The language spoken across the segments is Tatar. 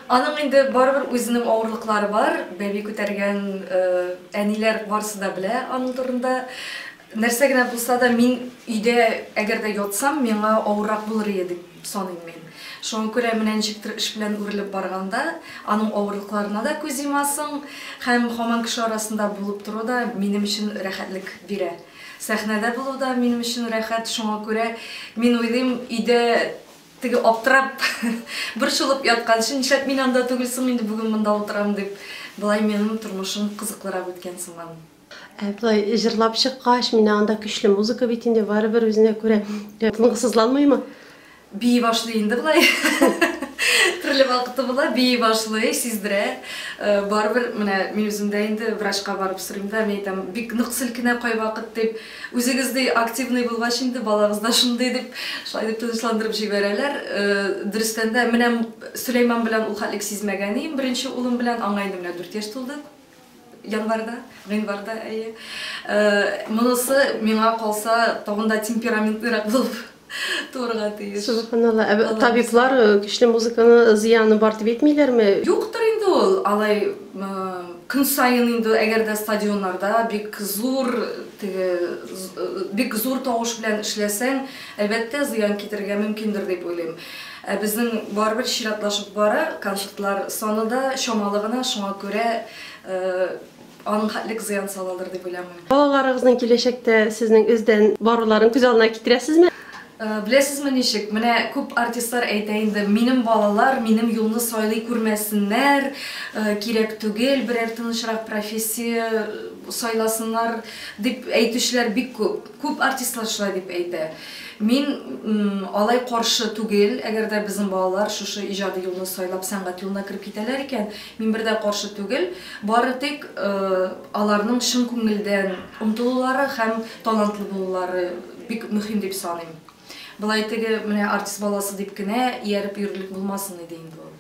Аның инде барыбер үзенең авырлыклары бар, бәби күтәргән әниләр барысы да белә аның турында. Нәрсә генә булса да, мин өйдә әгәр дә ятсам, миңа авыррак булыр иде дип саныйм мин. Шуңа күрә менә ничектер эш белән үрелеп барганда, аның авырлыкларына да күз йомасың һәм һаман кеше арасында булып тору да минем өчен рәхәтлек бирә. Сәхнәдә булу да минем өчен рәхәт, шуңа күрә мин уйлыйм, өйдә Теге аптырап, борчылып ятканчы, нишләп мин анда түгел соң инде бүген монда утырам дип, болай минем тормышым кызыклырак үткән сыман. Ә болай җырлап чыккач, менә анда көчле музыка бит инде, барыбер үзенә күрә тынгысызланмыймы? Бии башлый инде болай. Төрле вакыты була, бии башлый, сиздерә. Э, барыбер менә мин үзем дә инде врачка барып сорыйм да, мин әйтәм, бик нык селкенә кайвакыт дип. Үзегездәй активный булгач инде балагыз да шундый, дип, шулай дип тынычландырып җибәрәләр. Дөрестән дә, менә Сөләйман белән ул хәтлек сизмәгән идем, беренче улым белән, аңа инде менә дүрт яшь тулды, январьда, гыйнварда, әйе. Монысы, миңа калса, тагын да темпераментныйрак булып Туырга тиеш. Субханалла. Ә Аллаһ табиблар э, көчле музыканы зыяны бар дип әйтмиләрме? Юктыр инде ул, алай э, көн саен инде әгәр дә стадионнарда бик зур теге з- э, бик зур тавыш белән эшләсәң, әлбәттә зыян китерергә мөмкиндер дип уйлыйм. Ә безнең барыбер чиратлашып бара, концертлар саны да чамалы гына, шуңа күрә э, Аның хәтлек зыян салалыр дип уйламыйм. Балаларыгызның киләчәктә сезнең өздән баруларын күз алдына китерәсезме? Беләсезме ничек, менә күп артистлар әйтә инде, минем балалар минем юлны сайлый күрмәсеннәр, кирәк түгел, берәр тынычрак профессия сайласыннар, дип әйтүчеләр бик күп. Күп артистлар шулай дип әйтә. Мин алай каршы түгел, әгәр дә безнең балалар шушы иҗади юлны сайлап сәнгать юлына кереп китәләр икән, мин бер дә каршы түгел. Бары тик аларның чын күңелдән омтылулары һәм талантлы булулары бик мөһим дип саныйм. Болай теге менә артист баласы дип кенә ияреп йөрерлек булмасын иде инде ул.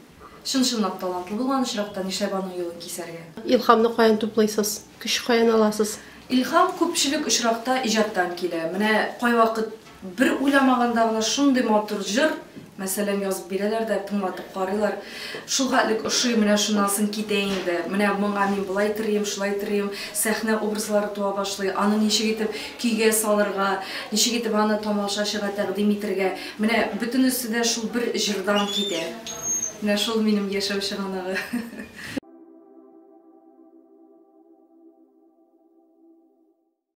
Чын-чынлап талантлы булган очракта нишләп аның юлын кисәргә? Илһамны каян туплыйсыз? Көч каян аласыз? Илһам күпчелек очракта иҗаттан килә. Менә кайвакыт бер уйламаганда гына шундый матур җыр, мәсәлән, язып бирәләр дә, тыңлатып карыйлар. Шулхәтлек ошый, менә шуннан соң китә инде. Менә моңа мин болай терим, шулай терим. Сәхнә образлары туа башлый. Аны ничек итеп көйгә салырга, ничек итеп аны тамашачыга тәкъдим итергә. Менә бөтенесе дә шул бер җырдан китә. Менә шул минем яшәү чыганагы.